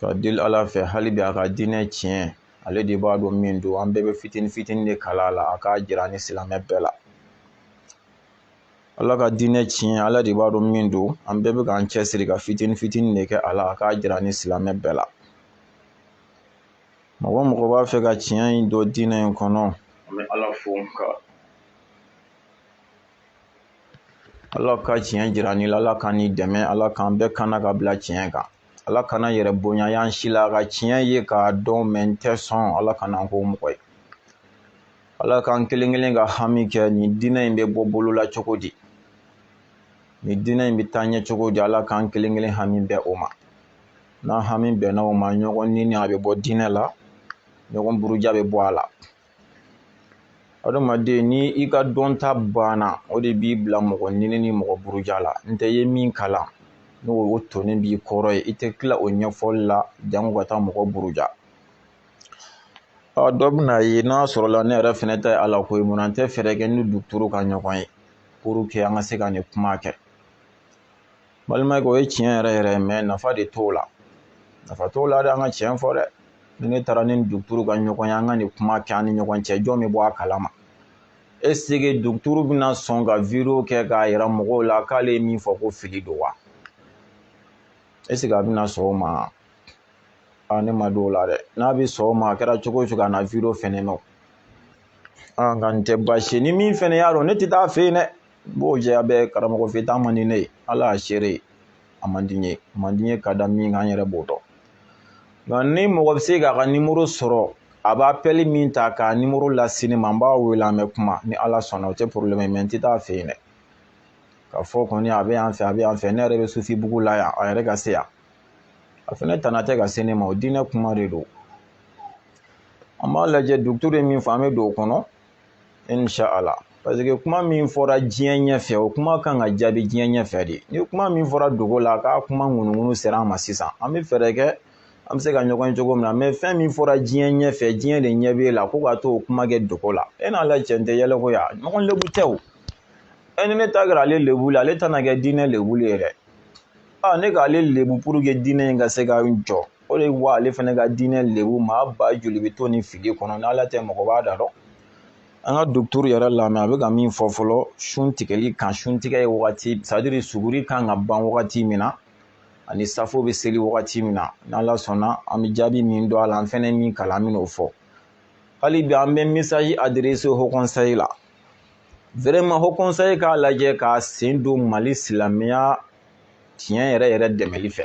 ka deli ala fɛ hali bi a ka diinɛ tiɲɛ ale de b'a dɔn min don an bɛɛ bɛ fitini fitini de kalan a la a k'a jira an ni silamɛ bɛɛ la ala ka diinɛ tiɲɛ ala de b'a dɔn min don an bɛɛ bɛ k'an cɛsiri ka fitini fitini de kɛ a la a k'a jira an ni silamɛ bɛɛ la mɔgɔ mɔgɔ b'a fɛ ka tiɲɛ in dɔn diinɛ in kɔnɔ an bɛ ala fo ka ala ka tiɲɛ jira nin la ala ka nin dɛmɛ ala k'an bɛɛ kana ka bila tiɲɛ kan ala kana yɛrɛ bonya y'an si la ka tiɲɛ ye k'a dɔn mɛ n tɛ sɔn ala kana an k'o mɔgɔ ye ala k'an kelen kelen ka hami kɛ nin diinɛ in bɛ bɔ bolo la cogo di nin diinɛ in bɛ taa ɲɛ cogo di ala k'an kelen kelen hami bɛn o ma n'an hami bɛnna o ma ɲɔgɔn neni a bɛ bɔ diinɛ la ɲɔgɔn buruja bɛ bɔ a la adamaden ni i ka dɔnta banna o de b'i bila mɔgɔ neni ni mɔgɔ buruja la n tɛ ye min kalan n'o tonnen b'i kɔrɔ yen i tɛ tila o ɲɛfɔli la jango ka taa mɔgɔ buruja dɔ bɛna ye n'a sɔrɔla ne yɛrɛ fɛnɛ ta ye ala ko ye mun na n tɛ fɛɛrɛ kɛ ni duturu ka ɲɔgɔn ye pour que an ka se ka nin kuma kɛ balimakɛ o ye tiɲɛ yɛrɛ yɛrɛ ye mɛ nafa de t'o la nafa t'o la de an ka tiɲɛ fɔ dɛ ni ne taara ni duguturu ka ɲɔgɔn ye an ka nin kuma kɛ an ni ɲɔgɔn cɛ jɔn bɛ bɔ a kalama est-ce que duguturu bɛna sɔn ka video kɛ k'a yira mɔgɔw la k'ale ye min fɔ ko fili don wa est-ce que a bɛna sɔn o ma a ne ma da o la dɛ n'a bɛ sɔn o ma a kɛra cogo o cogo a na video fɛnɛ mɛn nka nin tɛ baasi ye ni min fɛnɛ y'a dɔn ne tɛ taa fɛ yen dɛ n b'o jɛya bɛɛ karamɔgɔ fɛ taa man di ne ye ala y'a seere ye a man di n ye a man di n ye ka da min kan n yɛrɛ b'o dɔn nka ni mɔgɔ bɛ se k'a ka nimoro sɔrɔ a bɛ appel min ta k'a nimoro lase ne ma n b'a wele an bɛ kuma ni ala sɔnna o tɛ problème ye mɛ n tɛ taa fɛ yen dɛ k'a fɔ kɔni a bɛ yan fɛ a bɛ yan fɛ ne yɛrɛ bɛ sufi bugu la yan a yɛrɛ ka se yan a fana tana tɛ ka se ne ma o diinɛ kuma de don an b'a lajɛ duguturu ye min fɔ an bɛ don o kɔnɔ inshallah parce que kuma min fɔra diɲɛ ɲɛfɛ o kuma kan ka jaabi diɲɛ ɲɛfɛ de ni kuma min fɔra dogo la k'a kuma ŋunuŋunu sera an ma sisan an bɛ fɛɛrɛ kɛ an bɛ se ka ɲɔgɔn ye cogo min na mɛ fɛn min fɔra diɲɛ ɲɛfɛ diɲɛ de ɲɛ b'e la ko ka taa o kuma kɛ dogo la e n'ala cɛ nin tɛ yɛlɛko ya ɲɔgɔn lebu tɛ o e ni ne ta kɛra ale lebuli ale ta na kɛ diinɛ lebuli ye dɛ aa ne k'ale lebu pour que diinɛ in ka se ka jɔ o de wa ale fana ka diinɛ lebu maa ba joli bɛ to nin fili kɔnɔ n'ala tɛ mɔgɔ b'a da dɔn an ka duguturu yɛrɛ lamɛn a bɛ ka min fɔ fɔlɔ sun tigɛli kan sun tigɛ ye wagati c'est-à-dire suguri kan ka ban wagati min na ani safo bɛ seli wagati min na n'ala sɔnna an bɛ jaabi min dɔn a la an fɛnɛ min kalan an bɛn'o fɔ hali bi an bɛ message adresser haut conseil la vraiment haut conseil k'a lajɛ k'a sen don mali silamɛya tiɲɛ yɛrɛ yɛrɛ dɛmɛli fɛ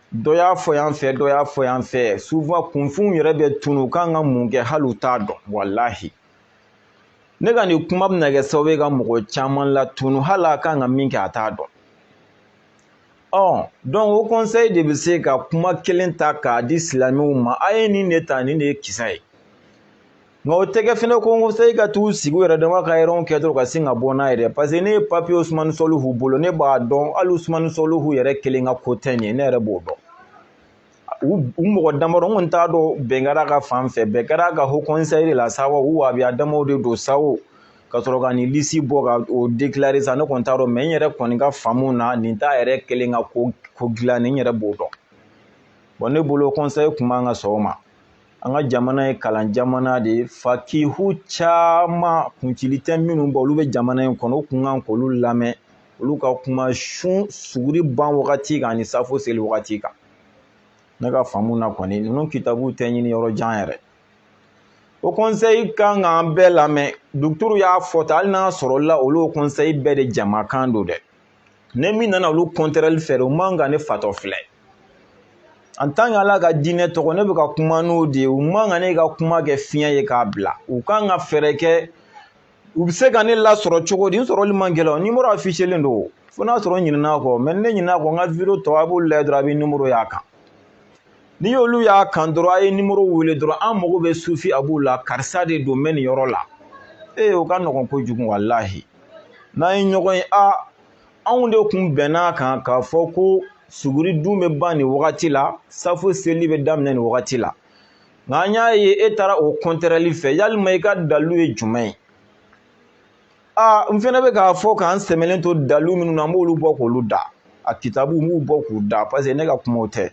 dɔ y'a fɔ yan fɛ dɔ y'a fɔ yan fɛ souvent kunfinw yɛrɛ bɛ tunu u kan ka mun kɛ hali u t'a dɔn walahi ne ka nin kuma bɛna kɛ sababu ye ka mɔgɔ caman latunu hali a kan ka min kɛ a t'a dɔn ɔ donc o kɔnseyi de bɛ se ka kuma kelen ta k'a di silamɛw ma a ye nin de ta nin de ye kisa ye nka o tɛ kɛ fɛnɛ ko kɔnseyi ka t'u sigi u yɛrɛ dama ka yɛrɛw kɛ dɔrɔn ka sin ka bɔ n'a yɛrɛ paseke ne ye papiye usumani sɔlihu bolo ne b'a dɔn hali usumani sɔlihu yɛrɛ kelen ka ko tɛ nin ye ne yɛrɛ b'o dɔn u mɔgɔ damadɔ n kɔni t'a dɔn bɛn kɛra a kan fan fɛ bɛn kɛra a kan o kɔnseyi la sa wa u wahabiya damaw de don sa wo ka sɔrɔ ka nin lisi bɔ ka o dekilare sa ne kɔni t'a dɔn mɛ n yɛrɛ kɔni ka faamu na nin t'a yɛrɛ kelen ka ko ko dilan n yɛrɛ b'o dɔn bɔn ne bolo kɔnseyi kun man ka sɔn o ma an ka jamana ye kalan jamana de ye fakihu caman kuncili tɛ minnu bɔ olu bɛ jamana in kɔnɔ u kun kan k'olu lamɛn olu ka kuma sun suguri ban wagati kan ani safo seli wagati kan ne ka faamu na kɔni ninnu kitabuw tɛ ɲini yɔrɔ jan yɛrɛ o kɔnseyi kan k'an bɛɛ lamɛn duguturu y'a fɔ tan hali n'a sɔrɔla olu o kɔnseyi bɛɛ de jamakan don dɛ ne min nana olu kɔntɛrɛli fɛ o man kan ne fatɔ filɛ en tant que ala ka diinɛ tɔgɔ ne bɛ ka kuma n'o de ye u man kan ne ka kuma kɛ fiɲɛ ye k'a bila u kan ka fɛɛrɛ kɛ u bɛ se ka ne lasɔrɔ cogo di n sɔrɔli man gɛlɛn nimoro afiselen don fo n'a sɔrɔ n ɲinɛna kɔ mɛ ne ɲinɛna kɔ n ka video tɔ a b'olu lajɛ dɔrɔn a bɛ nimoro y'a kan n'i y'olu y'a kan dɔrɔn a ye nimoro wele dɔrɔn an mago bɛ sufi abu la karisa de don n bɛ nin yɔrɔ la ee o ka nɔgɔn kojugu walahi n'an ye ɲɔgɔn ye a anw de kun bɛnn'a kan k'a fɔ ko suguri dun bɛ ban nin wagati la safo seli bɛ daminɛ nin wagati la nka an y'a ye e taara o kɔntɛrɛli fɛ yalima i ka dalu ye jumɛn ye aa n fɛnɛ bɛ k'a fɔ k'an sɛmɛlen to dalu minnu na n b'olu bɔ k'olu da a kitabu n b'u bɔ k'u da paseke ne ka kumaw tɛ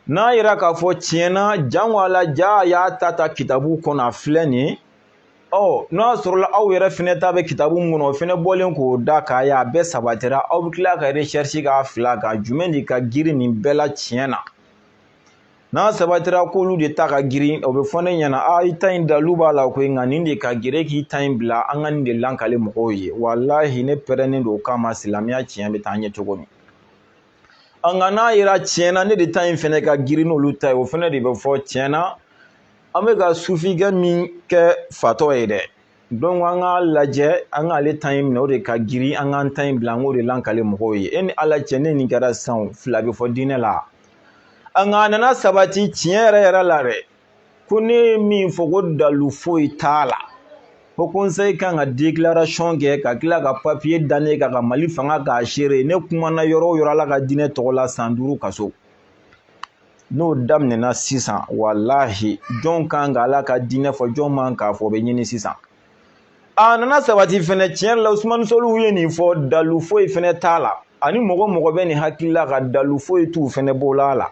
n'a yira k'a fɔ tiɲɛ na jango a la ja a y'a ta ta kitabu kɔnɔ a filɛ nin ye ɔ n'a sɔrɔla aw yɛrɛ fɛnɛ ta bɛ kitabu mun kɔnɔ o fɛnɛ bɔlen k'o da k'a ye a bɛɛ sabatira aw bɛ tila ka recherche k'a fila kan jumɛn de ka girin nin bɛɛ la tiɲɛ na n'a sabatira k'olu de ta ka girin o bɛ fɔ ne ɲɛna a i ta in dalu b'a la koyi nka nin de ka girin e k'i ta in bila an ka nin de lankale mɔgɔw ye walahi ne pɛrɛnnen don o kama silamɛya tiɲɛ bɛ taa ɲɛ cogo min nka n'a yera tiɲɛ na ne de ta in fɛnɛ ka girin n'olu ta ye o fɛnɛ de bɛ fɔ tiɲɛ na an bɛ ka sufikɛ min kɛ fatɔ ye dɛ donc an k'a lajɛ an k'ale ta in minɛ o de ka girin an k'an ta in bila an k'o de lakali mɔgɔw ye e ni ala cɛ ne nin kɛra sisan fila bɛ fɔ diinɛ la nka a nana sabati tiɲɛ yɛrɛ yɛrɛ la dɛ ko ne ye min fɔ ko dalu foyi t'a la haut conseil kan ka déclaration kɛ ka tila ka papier da ne kan ka mali fanga k'a seere ne kumana yɔrɔ o yɔrɔ ala ka diinɛ tɔgɔ la san duuru kaso n'o daminɛna sisan walahi jɔn kan ka ala ka diinɛ fɔ jɔn man k'a fɔ o bɛ ɲini sisan a nana sabati fɛnɛ tiɲɛ yɛrɛ la usumani sɔliw ye nin fɔ dalu foyi fɛnɛ t'a la ani mɔgɔ o mɔgɔ bɛ nin hakili la ka dalu foyi t'u fɛnɛ bolo a la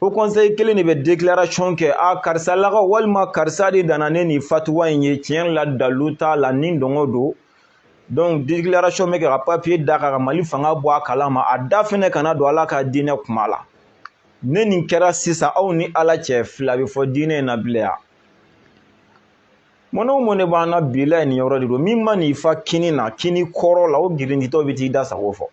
haut conseil kelen de bɛ déclaration kɛ a karisa lakaw walima karisa de nana ni nin fatuwa in ye tiɲɛ yɛrɛ la dalu t'a la ni dungɔ don donc déclaration bɛ kɛ ka papier da ka mali fanga bɔ a kalama a da fɛnɛ kana don ala ka diinɛ kuma la ne nin kɛra sisan aw ni ala cɛ fila bɛ fɔ diinɛ in na bilahi mɔnɛ o mɔnɛ b'an na bi la nin yɔrɔ de don min mana i fa kini na kini kɔrɔ la o girintitɔ bɛ t'i da sago fɔ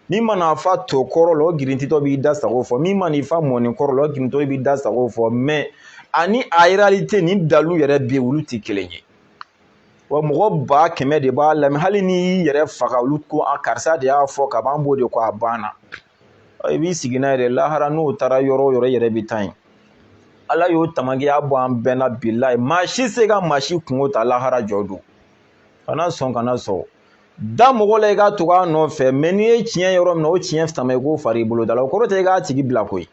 min mana i fa to kɔrɔ la o girintitɔ b'i da sago fɔ min mana i fa mɔni kɔrɔ la o girintitɔ b'i da sago fɔ mais ani a réalité ni dalu yɛrɛ bɛ yen olu tɛ kelen ye wa mɔgɔ ba kɛmɛ de b'a lamɛn hali n'i y'i yɛrɛ faga olu ko a karisa de y'a fɔ ka ban b'o de ko a banna i b'i sigi n'a yɛrɛ lahara n'o taara yɔrɔ o yɔrɔ i yɛrɛ bɛ taa yen ala y'o tamakiya bɔ an bɛɛ na bilahi maa si se ka maa si kunko ta lahara jɔ don kana sɔn kana sɔn da mɔgɔ la i ka tugu a nɔfɛ mais n'i ye tiɲɛ yɔrɔ min na o tiɲɛ sama i k'o fara i bolo da la o kɔrɔ tɛ i k'a tigi bila koyi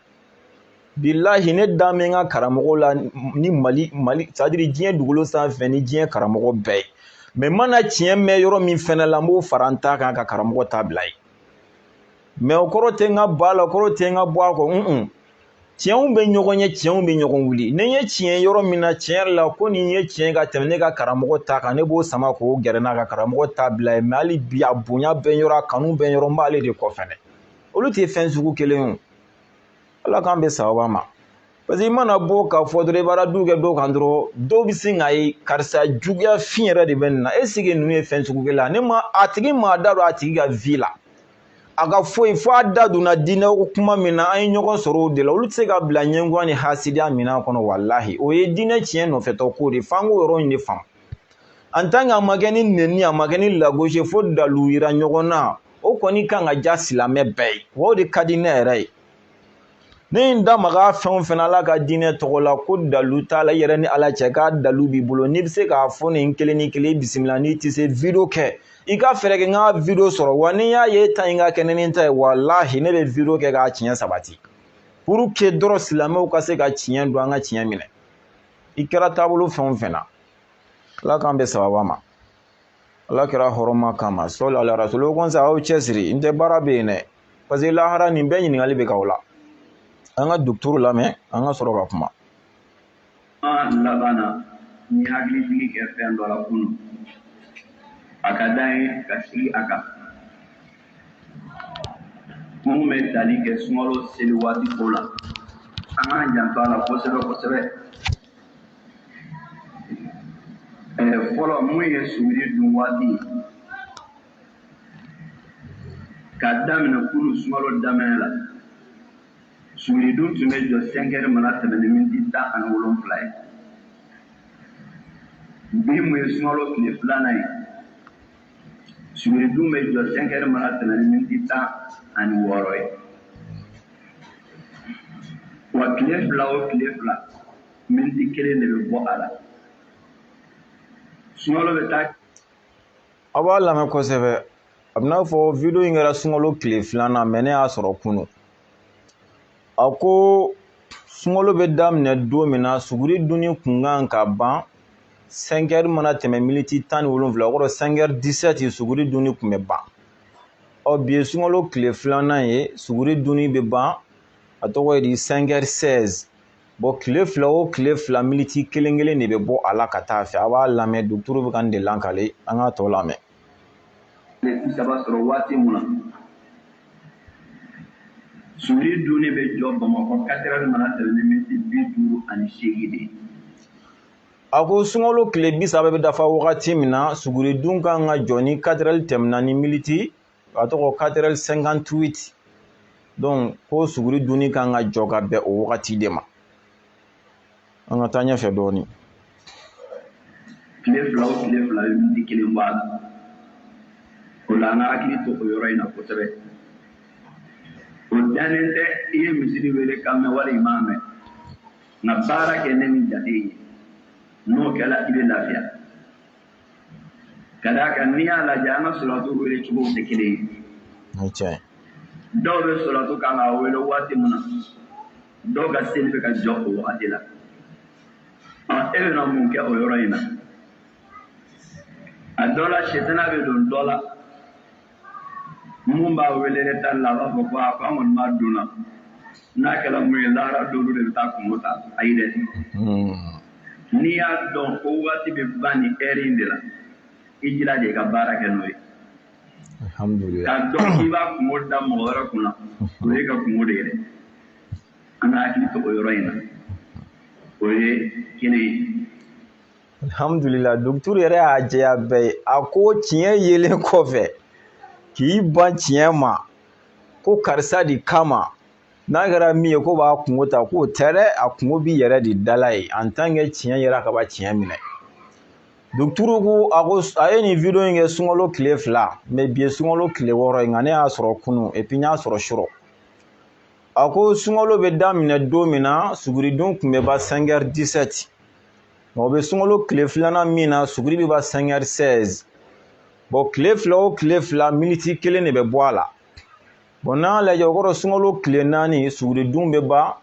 bilahi ne dalen bɛ n ka karamɔgɔ la ni mali mali c'est à dire diɲɛ dugukolo sanfɛ ni diɲɛ karamɔgɔ bɛɛ ye mais n mana tiɲɛ mɛn yɔrɔ min fɛnɛ la n b'o fara n ta kan ka karamɔgɔ ta bila yen mais o kɔrɔ tɛ n ka bɔ a la o kɔrɔ tɛ n ka bɔ a kɔ un tiɲɛw bɛ ɲɔgɔn ye tiɲɛw bɛ ɲɔgɔn wuli ni n ye tiɲɛ yɔrɔ min na tiɲɛ yɛrɛ la ko nin ye tiɲɛ ka tɛmɛ ne ka karamɔgɔ ta kan ne b'o sama k'o gɛrɛ n na ka karamɔgɔ ta bila yen mais hali bi a bonya bɛ n yɔrɔ a kanu bɛ n yɔrɔ n b'ale de kɔ fɛnɛ olu tɛ fɛn sugu kelen ye ala k'an bɛn sawaba ma parce que i mana bɔ k'a fɔ dɔrɔn i bɛ radu kɛ dɔw kan dɔrɔn dɔw bɛ sin k'a ye karisa juguya fin yɛrɛ de bɛ nin na est ce que ninnu ye fɛn sugu kelen ye ne ma a tigi ma a da don a tigi ka vie la a ka foyi fo a da donna diinɛ ko kuma min na an ye ɲɔgɔn sɔrɔ o de la olu tɛ se ka bila ɲɛngoya ni hasidiya minɛn kɔnɔ walahi o ye diinɛ tiɲɛ nɔfɛtɔ ko de f'an k'o yɔrɔ in de faamu en tant que a ma kɛ ni nɛni a ma kɛ ni lagosi fo dalu yira ɲɔgɔn na o kɔni kan ka diya silamɛ bɛɛ ye wa o de ka di ne yɛrɛ ye ne ye n da maga fɛn o fɛn ala ka diinɛ tɔgɔ la ko dalu t'a la i yɛrɛ ni ala cɛ k'a dalu b'i bolo n'i bɛ se k'a fɔ nin kelen ni kelen i bisimila n'i tɛ se video kɛ i ka fɛɛrɛ kɛ n ka video sɔrɔ wa ni n y'a ye i ta in ka kɛnɛ ni n ta ye walahi ne bɛ video kɛ k'a tiɲɛ sabati pour que dɔrɔn silamɛw ka se ka tiɲɛ dɔn an ka tiɲɛ minɛ i kɛra taabolo fɛn o fɛn na ala k'an bɛn sawaba ma ala kira hɔrɔma kama sɔli ala rasulu o kɔ sa aw cɛsiri n tɛ baara bɛ yen dɛ parce que lahara nin bɛɛ ɲininkali bɛ k'aw la an ka duguturu lamɛn an ka sɔrɔ ka kuma laban na n ye hakilijigin kɛ fɛn dɔ la kunu a ka d'an ye ka segin a kan minnu bɛ tali kɛ sunkalo seli waati ko la an k'an janto a la kosɛbɛ kosɛbɛ fɔlɔ mun ye suguri dun waati ye ka daminɛ kunu sunkalo daminɛ la suguri dun tun bɛ jɔ sɛnkɛri mana tɛmɛ ni miniti tan ani wolonwula ye bi mun ye sunkalo tile filanan ye suguri dun bɛ jɔ sɛnkɛri mana tɛmɛ ni miniti tan ani wɔɔrɔ ye wa tile fila o tile fila miniti kelen de bɛ bɔ a la sunkalo bɛ taa aw b'a lamɛn kosɛbɛ a bɛ n'a fɔ video in kɛra sunkalo tile filanan mais ne y'a sɔrɔ kunun a ko sunkalo bɛ daminɛ don min na suguri dunni kun kan ka ban sɛnkɛri mana tɛmɛ militi tan ni wolonwula o kɔrɔ sɛnkɛri disɛti suguri dunni kun bɛ ban ɔ bi ye sunkalo tile filanan ye suguri dunni bɛ ban a tɔgɔ ye di sɛnkɛri sɛzi bɔn tile fila o tile fila militi kelen kelen de bɛ bɔ a la ka taa fɛ a b'a lamɛn duguturu bɛ ka nin de lakali an k'a tɔ lamɛn bi saba sɔrɔ waati mun na suguri dunni bɛ jɔ bamakɔ katerɛri mana tɛmɛ ni miniti bi duuru ani seegin de ye a ko sunkalo tile bi saba bɛ dafa wagati min na suguri dun kan ka jɔ ni katerɛri tɛmɛna ni militi a tɔgɔ katerɛri sɛnkantuwiti donc ko suguri dunni kan ka jɔ ka bɛn o wagati de ma an ka taa ɲɛfɛ dɔɔni tile fila o tile fila bɛ miniti kelen bɔ a la o la an ka hakili to o yɔrɔ in na kosɛbɛ o dalen tɛ i ye misiri wele kan mɛn wali i m'a mɛn nka baara kɛ ni nin jate ye n'o kɛra i bɛ lafiya Ka d'a kan n'i y'a lajɛ an ka solatu wele cogow tɛ kelen ye. Dɔw bɛ solatu kan k'a wele waati min na, dɔw ka seli bɛ ka jɔ o waati la. Ɔ e bɛna mun kɛ o yɔrɔ in na? A dɔ la, sitana bɛ don dɔ la. mun b'a wele ne ta la a b'a fɔ ko a ko an kɔni b'a dun na n'a kɛra mun ye lahara dɔlu de bɛ taa kungo ta ayi dɛ n'i y'a dɔn ko waati bɛ ban nin heure in de la i jilaja i ka baara kɛ n'o ye k'a dɔn k'i b'a kungo da mɔgɔ wɛrɛ kunna o ye ka kungo de ye dɛ an ka hakili to o yɔrɔ in na o ye kelen ye alihamudulila docteur yɛrɛ y'a jɛya bɛɛ ye a ko tiɲɛ yelen kɔfɛ k'i ban tiɲɛ ma ko karisa de kama n'a kɛra min ye k'o b'a kungo ta k'o tɛ dɛ a kungo b'i yɛrɛ de dala ye en tant que tiɲɛ yera ka ban tiɲɛ minɛ docteur ko a ye nin video in kɛ sunkalo tile fila mais bi ye sunkalo tile wɔɔrɔ ye nka ne y'a sɔrɔ kunu et puis n y'a sɔrɔ su rɔ a ko sunkalo bɛ daminɛ don min na suguridon tun bɛ ban 5 heures 17 Nka o bɛ sunkalo tile filanan min na suguri bɛ ban 5 heures 16 bon tile fila o tile fila miniti kelen de bɛ bɔ a la bon n'an y'a lajɛ o kɔrɔ sunkalo tile naani suguridun bɛ ban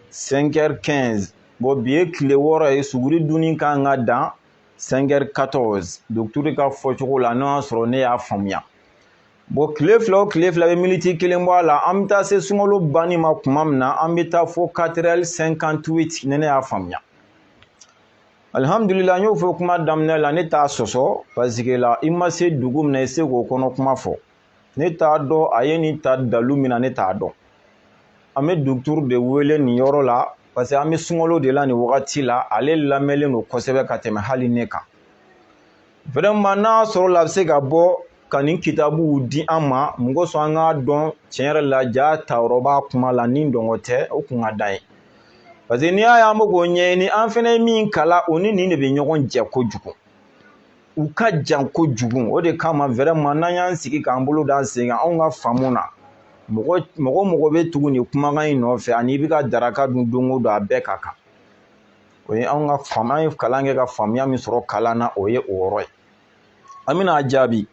5 heures 15 bon bi ye tile wɔɔrɔ ye suguri dunni kan ka dan 5 heures 14 docteur ka fɔcogo la n'o y'a sɔrɔ ne y'a faamuya bon tile fila o tile fila bɛ miniti kelen bɔ a la an bɛ taa se sunkalo banni ma tuma min na an bɛ taa fo 4 heures 58 ni ne y'a faamuya alihamdulila n y'o fɔ kuma daminɛ la ne t'a sɔsɔ parce que la i ma se dugu min na i se k'o kɔnɔ kuma fɔ ne t'a dɔn a ye nin ta dalu min na ne t'a dɔn an bɛ docteur de wele nin yɔrɔ la parce que an bɛ sunkalo de la nin wagati la ale lamɛnlen don kosɛbɛ ka tɛmɛ hali ne kan vraiment n'a sɔrɔla a bɛ se ka bɔ ka nin kitabuw di an ma mun kosɔn an k'a dɔn tiɲɛ yɛrɛ la jaa tayɔrɔ b'a kuma la ni dɔngɔ tɛ o kun ka d'an ye parce que n'i y'a ye an bɛ k'o ɲɛɲini an fɛnɛ ye min kalan o ni nin de bɛ ɲɔgɔn jɛ kojugu u ka jan kojugu o de kama vraiment n'an y'an sigi k'an bolo d'an sen kan anw ka faamu na mɔgɔ o mɔgɔ bɛ tugu nin kumakan in nɔfɛ ani i bɛ ka daraka dun don o don a bɛɛ ka kan o ye anw ka faamu an ye kalan kɛ ka faamuya min sɔrɔ kalan na o ye o yɔrɔ ye an bɛna a jaabi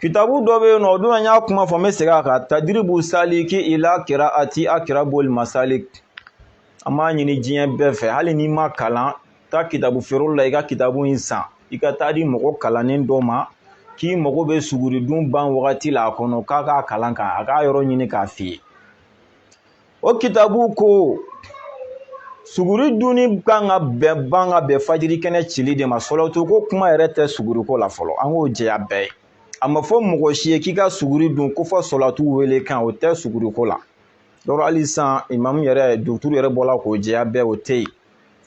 kitabu dɔ bɛ yen nɔ o don an y'a kuma fɔ n bɛ segin a kan tadiribu saliki ila kiraati akiraboli masali an b'a ɲini diɲɛ bɛɛ fɛ hali n'i ma kalan taa kitabu feereyɔrɔ la i ka kitabu in san i ka taa a di mɔgɔ kalannen dɔ ma k'i mago bɛ suguridun ban wagati la a kɔnɔ k'a k'a kalan k'a k'a yɔrɔ ɲini k'a f'i ye o kitabu ko suguri dunni kan ka bɛn ban ka bɛn fajiri kɛnɛ cili de ma sɔlatu ko kuma yɛrɛ tɛ suguriko la fɔlɔ an k'o jɛya bɛɛ ye a ma fɔ mɔgɔ si ye k'i ka suguri dun ko fɔ sɔlatu wele kan o tɛ suguriko la yɔrɔ hali sisan imamu yɛrɛ duguturu yɛrɛ bɔla k'o jɛya bɛɛ o tɛ yen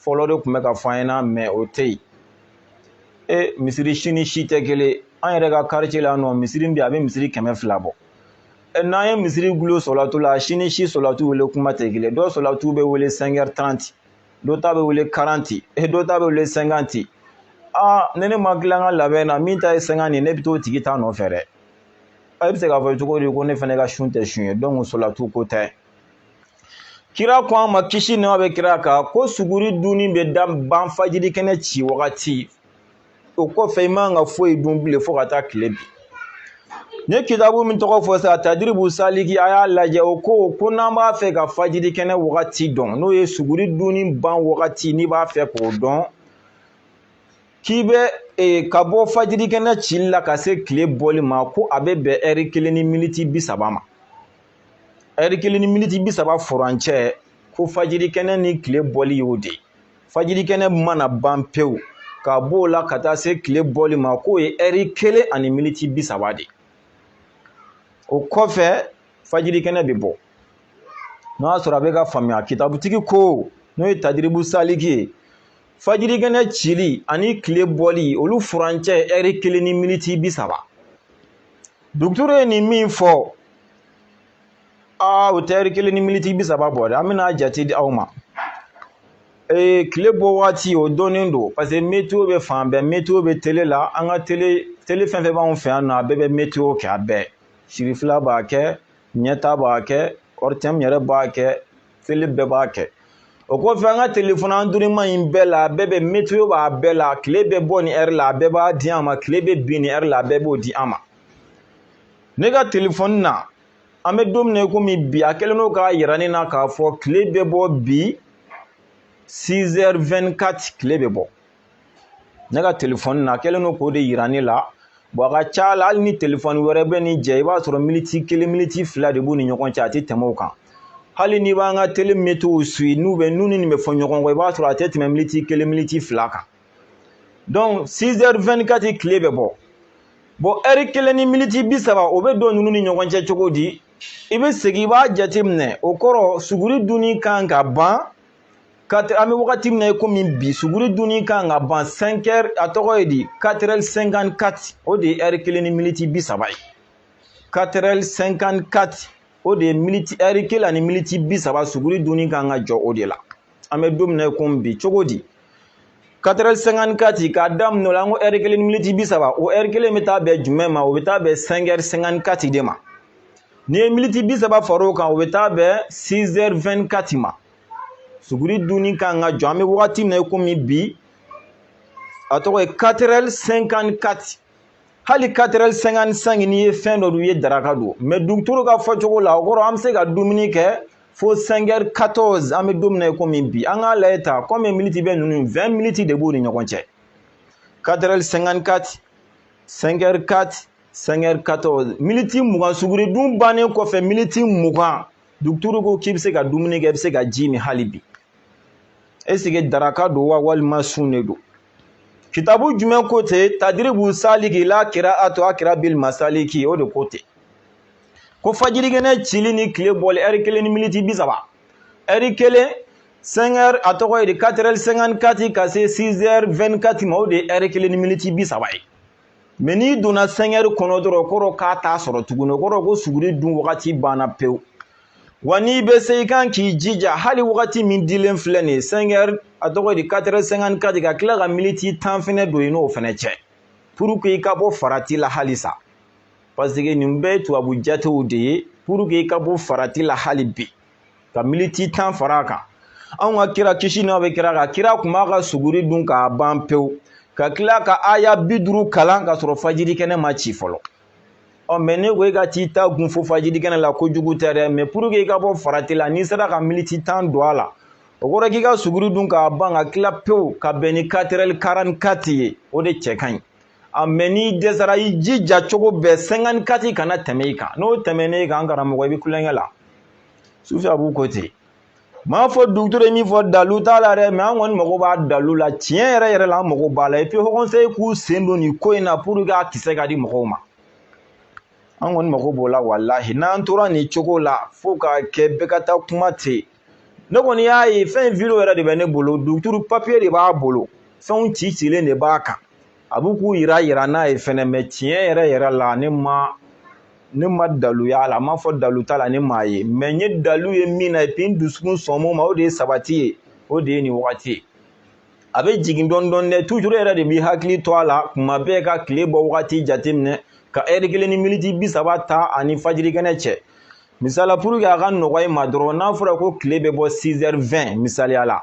fɔlɔ de tun bɛ ka fɔ an ɲɛna mɛ o tɛ yen e misiri si ni si tɛ kelen an yɛrɛ ka karice la nɔ misiri bi a bɛ misiri kɛmɛ fila bɔ n'an ye misiri gulo sɔlatu la si ni si sɔlatu wele kuma tɛ kelen dɔ sɔlatu bɛ wele 5h30 dɔ ta bɛ wele 40 dɔ ta bɛ wele 50 aa ne ne ma tila ka labɛn na min ta ye 50 ye ne bɛ t'o tigi ta nɔfɛ dɛ a bɛ se k'a fɔ cogo di ko ne fana ka sun tɛ sun ye donc sɔlatu ko tɛ kira ko an ma kisi nɛma bɛ kira kan ko suguri dunni bɛ da ban fajiri kɛnɛ ci wagati o kɔfɛ i man ka foyi dun bilen fo ka taa tile bin n ye kitabu min tɔgɔ fɔ sa tadiribu saliki a y'a lajɛ o ko ko n'an b'a fɛ ka fajiri kɛnɛ wagati dɔn n'o ye suguri dunni ban wagati n'i b'a fɛ k'o dɔn k'i bɛ e, ka bɔ fajiri kɛnɛ cili la ka se tile bɔli ma ko a bɛ bɛn ɛri kelen ni miniti bi saba ma ɛri kelen ni miniti bi saba furancɛ ko fajiri kɛnɛ ni tile bɔli y'o de ye fajiri kɛnɛ mana ban pewu ka b'o la ka taa se tile bɔli ma k'o ye ɛri kelen ani miniti bi saba de o kɔfɛ fajiri kɛnɛ bɛ bɔ n'o y'a sɔrɔ a bɛ k'a faamuya kitabutigi ko n'o ye tadiribu saliki ye fajiri kɛnɛ cili ani tile bɔli olu furancɛ ye ɛri kelen ni miniti bi saba duguturu ye nin min fɔ aa o tɛ ɛri kelen ni miniti bi saba bɔ dɛ an bɛna jate di aw ma ee tile bɔ waati o dɔnnen don parce que meteo bɛ fan bɛɛ meteo bɛ tele la an ka tele tele fɛn fɛn b'anw fɛ yan nɔ a bɛɛ bɛ meteo kɛ a bɛɛ serifila b'a kɛ ɲɛta b'a kɛ ɔritɛmu yɛrɛ b'a kɛ tele bɛɛ b'a kɛ o kɔfɛ an ka telefɔni an durima in bɛɛ la a bɛɛ bɛ meteo b'a bɛɛ la tile bɛ bɔ nin ɛri la a bɛɛ b'a di an ma tile bɛ bin nin ɛri la a bɛɛ b'o di an ma ne ka telefɔni na an bɛ don min na komi bi a kɛlen don k'a yira ne na k'a fɔ tile bɛ bɔ bi 6 heures 24 tile bɛ bɔ ne ka telefɔni na a kɛlen don k'o de yira ne la bɔn a ka ca la hali ni telefɔni wɛrɛ bɛ nin jɛ i b'a sɔrɔ militi kelen militi fila de b'u ni ɲɔgɔn cɛ a tɛ tɛmɛ o kan hali n'i b'an ka tele meteo suivi n'u ni nin bɛ fɔ ɲɔgɔn kɔ i b'a sɔrɔ a tɛ tɛmɛ militi kelen militi fila kan donc 6 heures 24 tile bɛ bɔ bon ɛri kelen ni miniti bi saba o bɛ don ninnu ni ɲɔgɔn cɛ cogo di i bɛ segin i b'a jateminɛ o kɔrɔ suguri dunni kan ka ban ka an bɛ wagati min na i komi bi suguri dunni kan ka ban 5 heures a tɔgɔ ye di 4 heures 54 o de ye ɛri kelen ni miniti bi saba ye 4 heures 54 o de ye miniti ɛri kelen ani miniti bi saba suguri dunni kan ka jɔ o de la an bɛ don min na komi bi cogo di 4 heures 54 k'a daminɛ o la an ko ɛri kelen militi bi saba o ɛri kelen bɛ taa bɛn jumɛn ma o bɛ taa bɛn 5 heures 54 de ma n'i ye militi bi saba fara o kan o bɛ taa bɛn 6 heures 24 ma suguri dunni kan ka jɔ an bɛ wagati min na komi bi a tɔgɔ ye 4 heures 54 hali 4 heures 55 n'i ye fɛn dɔ dun i ye daraka dun mɛ duguturu ka fɔcogo la o kɔrɔ an bɛ se ka dumuni kɛ fo 5 heures 14 an bɛ don min na komi bi an k'a lajɛ ta combien miniti bɛ ninnu 20 miniti de b'u ni ɲɔgɔn cɛ 4 heures 54 5 heures 4 5 heures 14 miniti mugan suguri dun bannen kɔfɛ miniti mugan duguturu ko k'i bɛ se ka dumuni kɛ i bɛ se ka ji min hali bi esike daraka don wa walima sun de don kitabu jumɛn ko ten tadiribu saliki ila kiraati akirabil masaliki o de ko ten ko fajirikɛnɛ cili ni tile bɔli ɛri kelen ni miniti bi saba ɛri kelen 5 heures a tɔgɔ ye di 4 heures 54 ka se 6 heures 24 ma o de ye ɛri kelen ni miniti bi saba ye mɛ n'i donna 5 heures kɔnɔ dɔrɔn kɔrɔ k'a t'a sɔrɔ tuguni o kɔrɔ ko suguri dun wagati banna pewu wa n'i bɛ se i kan k'i jija hali wagati min dilen filɛ nin ye 5 heures a tɔgɔ ye di 4 heures 54 ka tila ka miniti tan fɛnɛ don i n'o fɛnɛ cɛ puruke i ka bɔ farati la halisa paseke nin bɛɛ ye tubabu jatew de ye puruke i ka bɔ farati la hali bi ka militi tan fara a kan anw ka kira kisi nɛɛma bɛ kira kan kira tun b'a ka suguri dun k'a ban pewu ka tila ka aya bi duuru kalan ka sɔrɔ fajiri kɛnɛ ma ci fɔlɔ ɔ mɛ ne ko e ka t'i ta gun fo fajiri kɛnɛ la kojugu tɛ dɛ mɛ puruke i ka bɔ farati la n'i sera ka militi tan don a la o kɔrɔ k'i ka suguri dun k'a ban ka tila pewu ka bɛn ni 4 heures 44 ye o de cɛ ka ɲi a mɛ n'i dɛsɛra i jija cogo bɛɛ 54 kana tɛmɛ i kan n'o tɛmɛna i kan an karamɔgɔ i bɛ kulonkɛ la sufi abu ko ten m'a fɔ duguturu ye min fɔ dalu t'a la dɛ mɛ an kɔni mago b'a dalu la tiɲɛ yɛrɛ yɛrɛ la an mago b'a la epi haut conseil k'u sen don nin ko in na puruke a kisɛ ka di mɔgɔw ma an kɔni mago b'o la walahi n'an tora nin cogo la fo k'a kɛ bɛɛ ka taa kuma ten ne kɔni y'a ye fɛn in video yɛrɛ de bɛ ne bolo duguturu papiye de b'a bolo fɛnw ci cilen de b'a kan a b'u k'u yira yira n'a ye fɛnɛ mɛ tiɲɛ yɛrɛ yɛrɛ la ne ma ne ma dalu y'a la a m'a fɔ dalu t'a la ne m'a ye mɛ n ye dalu ye min na epi n dusukun sɔn min ma o de ye sabati ye o de ye nin wagati ye a bɛ jigin dɔɔni dɔɔni dɛ tujuru yɛrɛ de b'i hakili to a la kuma bɛɛ ka tile bɔ wagati jateminɛ ka ɛri kelen ni miniti bi saba ta ani fajirikɛnɛ cɛ misali la pour que a ka nɔgɔya i ma dɔrɔn n'a fɔra ko tile bɛ bɔ 6h20 misaliya la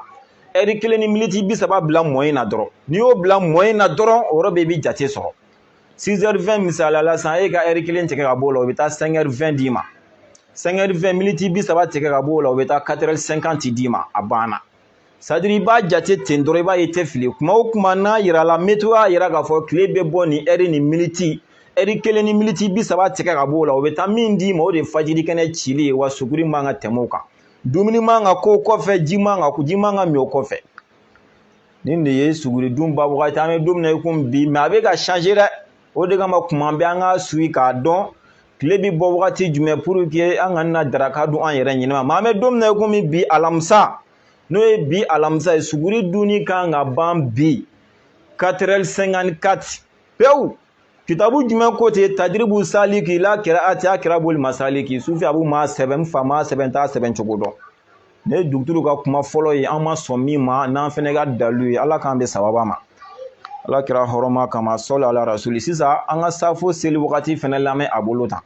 ɛri kelen ni miniti bi saba bila moins na dɔrɔn n'i y'o bila moins na dɔrɔn o yɔrɔ bɛɛ i bɛ jate sɔrɔ 6h20 misaliya la sisan e ka ɛri kelen tigɛ ka b'o la o bɛ taa 5h20 d'i ma 5h20 miniti bi saba tigɛ ka b'o la o bɛ taa 4h50 d'i ma a banna sadiri i b'a jate ten dɔrɔn i b'a ye tɛ fili kuma o kuma n'a yirala metewo y'a yira k'a fɔ tile bɛ bɔ nin ɛri ni miniti ɛri kelen ni miniti bi saba tigɛ ka b'o la o bɛ taa min d'i ma o de ye fajiri kɛnɛ cili ye wa suguri man ka tɛmɛ o kan dumuni man ka k'o kɔfɛ ji man ka ji man ka min o kɔfɛ nin de ye suguri dun ban wagati an bɛ don min na i komi bi mɛ a bɛ ka change dɛ o de kama kuma bɛɛ an ka suit k'a dɔn tile bɛ bɔ wagati jumɛn puruke an kana na daraka dun an yɛrɛ ɲinama mɛ an bɛ don min na i komi bi alamisa n'o ye bi alamisa ye suguri dunni kan ka ban bi 4h54 pewu kitabu jumɛn ko ten tadiribu saliki la kiraati akirabu li masaliki sufi abu m'a sɛbɛn n fa m'a sɛbɛn n t'a sɛbɛn cogo dɔn nin ye duguturu ka kuma fɔlɔ ye an ma sɔn min ma n'an fɛnɛ ka dalu ye ala k'an bɛn sababa ma ala kira hɔrɔma kama sɔli ala rasuli sisan an ka safo seli wagati fɛnɛ lamɛn a bolo tan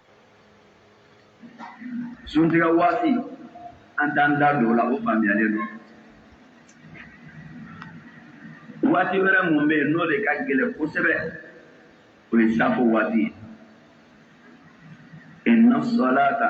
suntigɛ waati an t'an da don o la o faamuyalen don waati wɛrɛ mun bɛ yen n'o de ka gɛlɛn kosɛbɛ o ye safo waati ye inna salata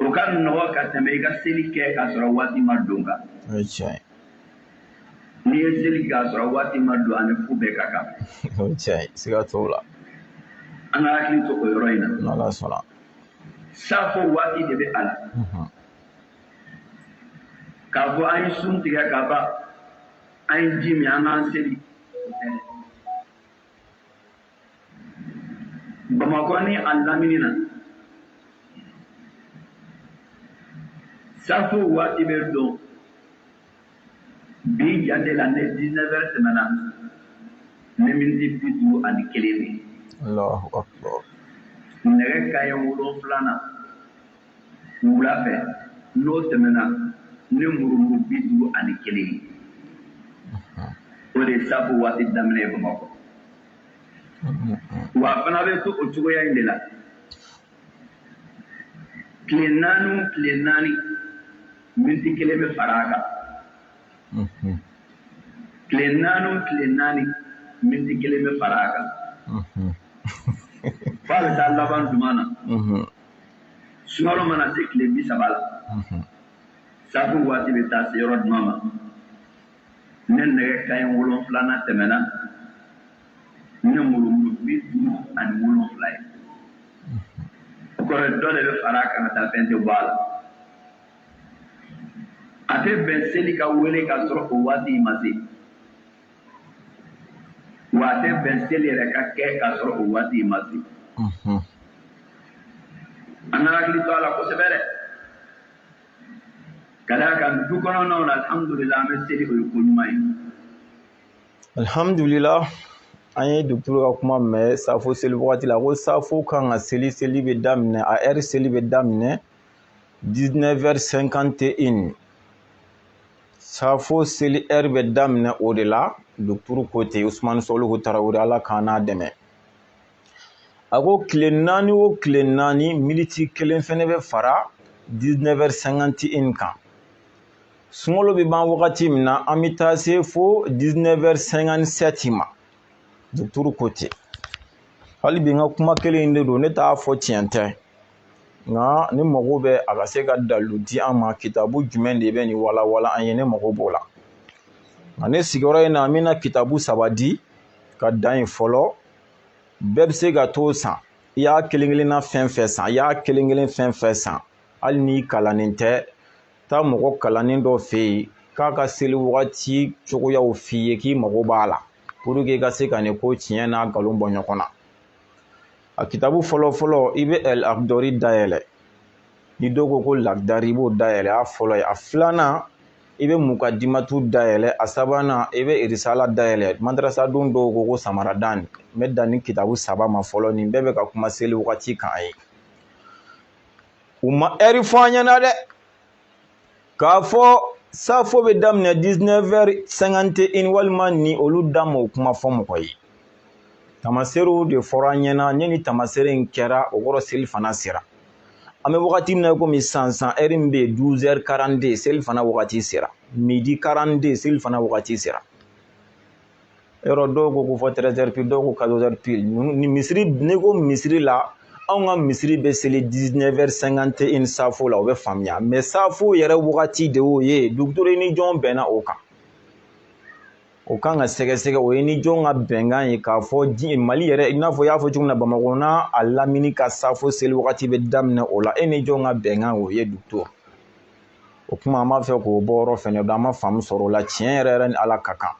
o ka nɔgɔ ka tɛmɛ i ka seli kɛ k'a sɔrɔ waati ma don kan o ye tiɲɛ ye n'i ye seli kɛ k'a sɔrɔ waati ma don ani fu bɛɛ ka kan o ye tiɲɛ ye siga t'o la an ka hakili to o yɔrɔ in na n'ala sɔnna safo waati de bɛ a la mhm. k'a fɔ an ye sun tigɛ ka ban an ye ji min an k'an seli bamakɔ ni a lamini na safo waati bɛ don bi jate la ne 19 heures tɛmɛna ni miniti bi duuru ani kelen de nɛgɛ kaɲɛ wolonwula na Wula fɛ, n'o tɛmɛna ni murumuru bi duuru ani kelen ye, o de ye saafo waati daminɛ ye Bamakɔ, wa a fana bɛ to o cogoya in de la tile naani o tile naani, miniti kelen bɛ fara a kan, tile naani o tile naani, miniti kelen bɛ fara a kan, f'a bɛ taa laban jumɛn na. sunkalo mana se tile bi saba la safo waati bɛ taa se yɔrɔ jumɛn ma ne nɛgɛ kanɲɛ wolonfila n'a tɛmɛna ni murumuru bi duuru ani wolonfila ye o kɔrɔ dɔ de bɛ fara a kan ka taa fɛn tɛ bɔ a la a tɛ bɛn seli ka wele k'a sɔrɔ o waati ma se Wa a tɛ bɛn seli yɛrɛ ka kɛ k'a sɔrɔ o waati ma se. Unhun. An ka hakili to a la kosɛbɛ dɛ! Ka d'a kan du kɔnɔnaw la alhamdulila an bɛ seli o ye ko ɲuman ye. Alhamdulila an ye docteur ka kuma mɛn safo seli wagati la, a ko safo kan ka seli, seli bɛ daminɛ, a heure seli bɛ daminɛ 19 heures 51 Safo seli heure bɛ daminɛ o de la docteur ko ten usumani sɔlihu tarawele ala k'an n'a dɛmɛ a ko tile naani o tile naani miniti kelen fana bɛ fara 19 heures 51 kan sunkalo bɛ ban wagati min na an bɛ taa se fo 19 heures 57 ma docteur ko ten hali bi n ka kuma kelen in de don ne t'a fɔ tiɲɛ tɛ nka ne mago bɛ a ka se ka dalu di an ma kitabu jumɛn de bɛ nin walawala an ye ne mago b'o la nka ne sigiyɔrɔ in na an bɛna kitabu saba di ka dan yen fɔlɔ bɛɛ bɛ se ka t'o san i y'a kelen kelenna fɛn fɛn san i y'a kelen kelen fɛn fɛn san hali n'i kalannen tɛ taa mɔgɔ kalannen dɔ fɛ yen k'a ka seli wagati cogoyaw f'i ye k'i mago b'a la pour que i ka se ka nin ko tiɲɛ n'a nkalon bɔ ɲɔgɔn na a kitabu fɔlɔ fɔlɔ i bɛ al akdari dayɛlɛ ni dɔw ko ko lakdari i b'o dayɛlɛ a fɔlɔ ye a filanan i bɛ mukadimatu dayɛlɛ a sabanan i bɛ irisala dayɛlɛ madarasaden dɔw ko ko samaradani n bɛ dan nin kitabu saba ma fɔlɔ nin bɛɛ bɛ ka kuma seli wagati kan an ye u ma heure fɔ an ɲɛna dɛ k'a fɔ safo bɛ daminɛ 19 heures 51 walima ni olu da ma o kuma fɔ mɔgɔ ye tamaseerew de fɔra an ɲɛna ne ni tamaseere in kɛra o kɔrɔ seli fana sera an bɛ wagati min na komi sisan heure min bɛ yen 12 heures 42 selifana wagati sera midi 42 selifana wagati sera yɔrɔ dɔw ko fo 13 heures pile dɔw ko 14 heures pile ni misiri n'i ko misiri la anw ka misiri bɛ seli 19 heures 51 safo la o bɛ faamuya mɛ safo yɛrɛ wagati de y'o ye duguturu e ni jɔn bɛnna o kan o kan ka sɛgɛsɛgɛ o ye ni jɔn ka bɛnkan ye k'a fɔ mali yɛrɛ i n'a fɔ i y'a fɔ cogo min na bamakɔ n'a a lamini ka safo seli wagati bɛ daminɛ o la e ni jɔn ka bɛnkan o ye dugu o kuma an b'a fɛ k'o bɔyɔrɔ fɛnɛ dɔn an ma faamu sɔrɔ o la tiɲɛ yɛrɛ yɛrɛ ni ala ka kan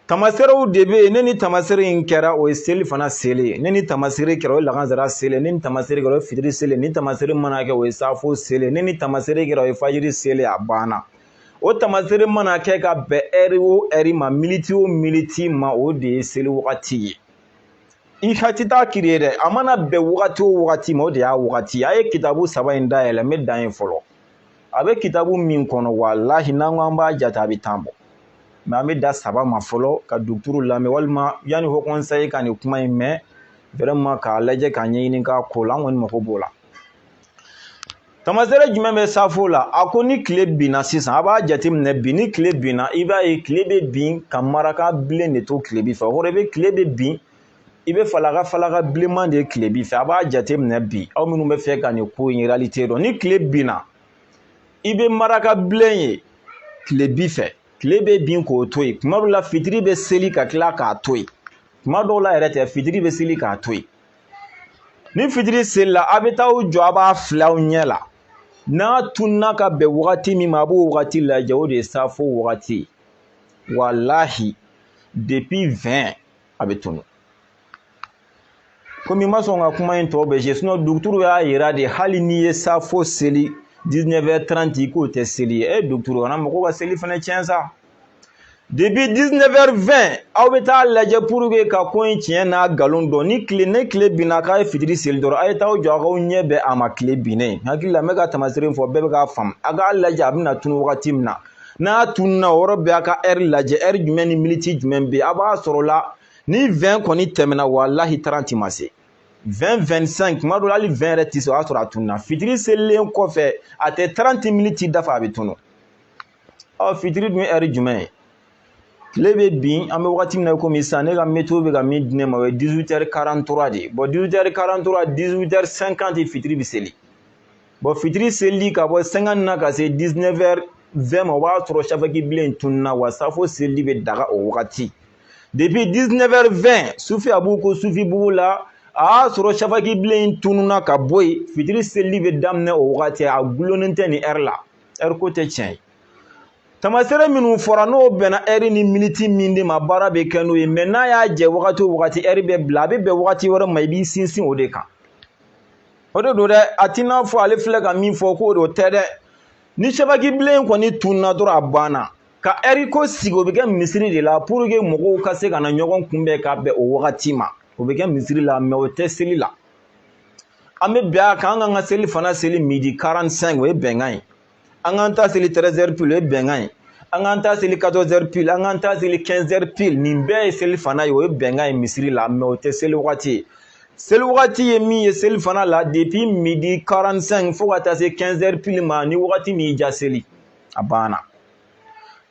tamaserew de bɛ yen ni nin tamasere in kɛra o ye selifana seli ni nin tamasere kɛra o ye lagansara seli ni nin tamasere kɛra o ye fitiri seli nin tamasere mana kɛ o ye safo seli ni nin tamasere kɛra o ye fajiri seli a banna o tamasere mana kɛ ka bɛn ɛri o ɛri ma militi o militi ma o de ye seli wagati ye i ka ti taa kiri ye dɛ a mana bɛn wagati o wagati ma o de y'a wagati a ye kitabu saba in dayɛlɛ n bɛ dan yen fɔlɔ a bɛ kitabu min kɔnɔ walahi n'an ko an b'a jate a bɛ tan bɔ mɛ an bɛ dan saba ma fɔlɔ ka duguturu lamɛn walima yanni haut conseil ka nin kuma in mɛn vraiment k'a lajɛ k'a ɲɛɲini k'a ko la an kɔni mako b'o la tamasere jumɛn bɛ safo la a ko ni tile binna sisan a b'a jateminɛ bi ni tile binna i b'a ye tile bɛ bin ka maraka bilen de to tilebi fɛ o kɔrɔ i bɛ tile bɛ bin i bɛ falaka falaka bilenman de tilebi fɛ a b'a jateminɛ bi aw minnu bɛ fɛ ka nin ko in réalité dɔn ni tile binna i bɛ maraka bilen ye tilebi fɛ tile bɛ bin k'o to yen tuma dɔw la fitiri bɛ seli ka tila k'a to yen tuma dɔw la yɛrɛ tɛ fitiri bɛ seli k'a to yen ni fitiri selila a bɛ taa aw jɔ a b'a filɛ aw ɲɛ la n'a tununna ka bɛn wagati min ma a b'o wagati lajɛ o de ye safo wagati walahi depi vɛn a bɛ tunu komi n ma sɔn ka kuma in tɔ bɛɛ se sinɔn duguturu y'a yira de hali n'i ye safo seli 19h30 k'o tɛ seli ye e duguturu kana mɔgɔw ka seli fana tiɲɛ sa depi 19h20 aw bɛ taa lajɛ pour que ka ko in tiɲɛ n'a nkalon dɔn ni tile ni tile binna k'a ye fitiri seli dɔrɔn a ye taa aw jɔ a k'aw ɲɛ bɛn a ma tilebin ne hakili la n bɛ ka tamasere fɔ bɛɛ bɛ k'a faamu a k'a lajɛ a bɛna tunu wagati min na n'a tununna o yɔrɔ bɛɛ a ka ɛri lajɛ ɛri jumɛn ni miniti jumɛn bɛ a b'a sɔrɔ la ni vɛn kɔni tɛmɛna walahi taranti ma se vɛn vɛn sɛnki tuma dɔ la hali vɛn yɛrɛ tɛ se o y'a sɔrɔ a tununna fitiri selilen kɔfɛ a tɛ taranti miniti dafa a bɛ tunu ɔ fitiri dun ye ɛri jumɛn ye tile bɛ bin an bɛ wagati min na komi sisan ne ka météo bɛ ka min di ne ma o ye 18 heures 43 de ye bɔn 18 heures 43 18 heures 50 fitiri bɛ seli bɔn fitiri selili ka bɔ 50 na ka se 19 heures 20 ma o b'a sɔrɔ safaki bilen tununna wa safo selili bɛ daga o wagati depuis 19 heures 20 sufi a b'u ko sufi bugu la a y'a sɔrɔ safaki bilen tununna ka bɔ yen fitiri selili bɛ daminɛ o wagati a gulonnen tɛ nin ɛri la ɛri ko tɛ tiɲɛ ye tamasere minnu fɔra n'o bɛnna ɛri ni miniti min de ma baara bɛ kɛ n'o ye mɛ n'a y'a jɛ wagati o wagati ɛri bɛ bila a bɛ bɛn wagati wɛrɛ ma i b'i sinsin o de kan o de don dɛ a t'i n'a fɔ ale filɛ ka min fɔ k'o de tɛ dɛ ni safaki bilen kɔni tunna dɔrɔn a banna ka ɛri ko sigi o bɛ kɛ misiri de la puruke mɔgɔw ka se ka na ɲɔgɔn kunbɛn ka bɛn o wagati ma o bɛ kɛ misiri la mɛ o tɛ seli la an bɛ bɛn a kan an k'an ka selifana seli midi 45 o ye bɛnkan ye an k'an ta seli 13 heures pile o ye bɛnkan ye an k'an ta seli 14 heures pile an k'an ta seli 15 heures pile nin bɛɛ ye selifana ye o ye bɛnkan ye misiri la mɛ o tɛ seli wagati ye seli wagati ye min ye selifana la depuis midi 45 fo ka taa se 15 heures pile ma ni wagati min y'i diya seli a banna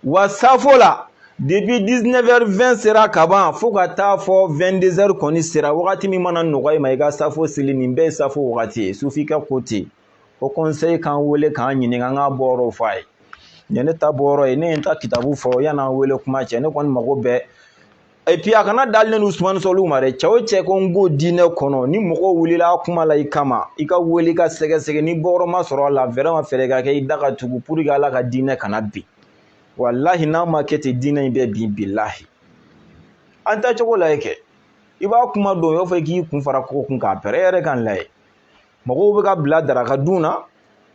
wa safo la depuis 19 heures 20 sera kaban fo ka taa fɔ 22 heures kɔni sera wagati min mana nɔgɔya i ma i ka safo seli nin bɛɛ ye safo wagati ye sufin ka ko ten haut conseil k'an wele k'an ɲininka an k'a bɔyɔrɔ fɔ a ye nin ne ta bɔyɔrɔ ye ne ye n ta kitabu fɔ yann'an wele kuma cɛ ne kɔni mɔgɔ bɛɛ et puis a kana dan ne ni usumani sɔlihu ma dɛ cɛ o cɛ ko n k'o diinɛ kɔnɔ ni mɔgɔ wulila kuma la i kama i k'a wele k'a sɛgɛsɛgɛ ni bɔyɔrɔ ma sɔrɔ a la vraiment fɛɛrɛ ka kɛ i da ka tugu pour que ala ka diinɛ kana bin walahi n'a ma kɛ ten diinɛ in bɛ bin bilahi an taacogo lajɛ kɛ i ba kuma don i b'a fɔ k'i kun fara kogo kun k'a pɛrɛ e yɛrɛ k'an lajɛ mɔgɔw bɛ ka bila daraka dun na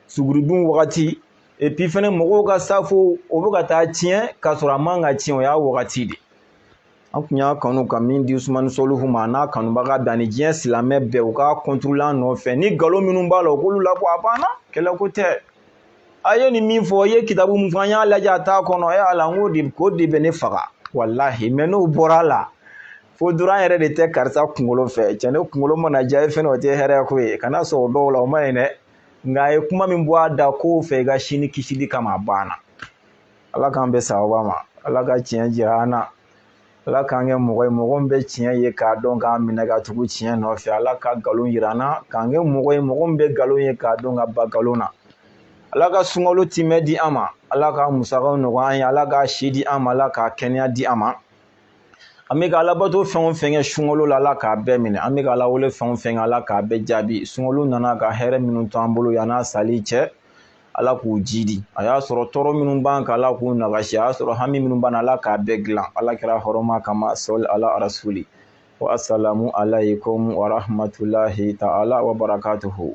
suguridun wagati epi fɛnɛ mɔgɔw ka safo o bɛ ka taa tiɲɛ k'a sɔrɔ a man ka tiɲɛ o y'a wagati de an kun y'a kanu ka min di usumani sɔlihu ma a n'a kanubaga bɛɛ ani diɲɛ silamɛ bɛɛ u ka contrôler an nɔfɛ ni nkalon minnu b'a la u k'olu labɔ a banna kɛlɛko tɛ a ye nin min fɔ i ye kitabu min fɔ an y'a lajɛ a t'a kɔnɔ e ala n k'o de ko de bɛ ne faga walahi mɛ n'o bɔra a la fo duran yɛrɛ de tɛ karisa kunkolo fɛ cɛ ne kunkolo mana diya e fɛnɛ o tɛ hɛrɛ ko ye kana sɔn o dɔw la o man ɲi dɛ nka a ye kuma min bɔ a da kow fɛ i ka sini kisili kama a banna ala k'an bɛn sawaba ma ala ka tiɲɛ jira an na ala k'an kɛ mɔgɔ ye mɔgɔ min bɛ tiɲɛ ye k'a dɔn k'a minɛ ka tugu tiɲɛ nɔfɛ ala ka nkalon jira an na k'an kɛ mɔgɔ ye mɔgɔ min bɛ nkalon ye k'a dɔn ka ban nkalon na ala ka sunkalo timɛ di an ma ala ka musakaw nɔgɔya an ye ala ka si di an ma ala ka kɛnɛya di an ma an bɛ ka alabato fɛn o fɛn kɛ sunkalo la ala k'a bɛɛ minɛ an bɛ ka alawele fɛn o fɛn kɛ ala k'a bɛɛ jaabi sunkalo nana ka hɛrɛ minnu to an bolo yann'a sali cɛ ala k'u jidi a y'a sɔrɔ tɔɔrɔ minnu b'an kan ala k'u nagasi a y'a sɔrɔ hami minnu b'an na ala k'a bɛɛ dilan ala kira hɔrɔma kama sɔli ala rasuli wa asalamu alaykum wa rahmatulahi ta'ala wa barakatuhu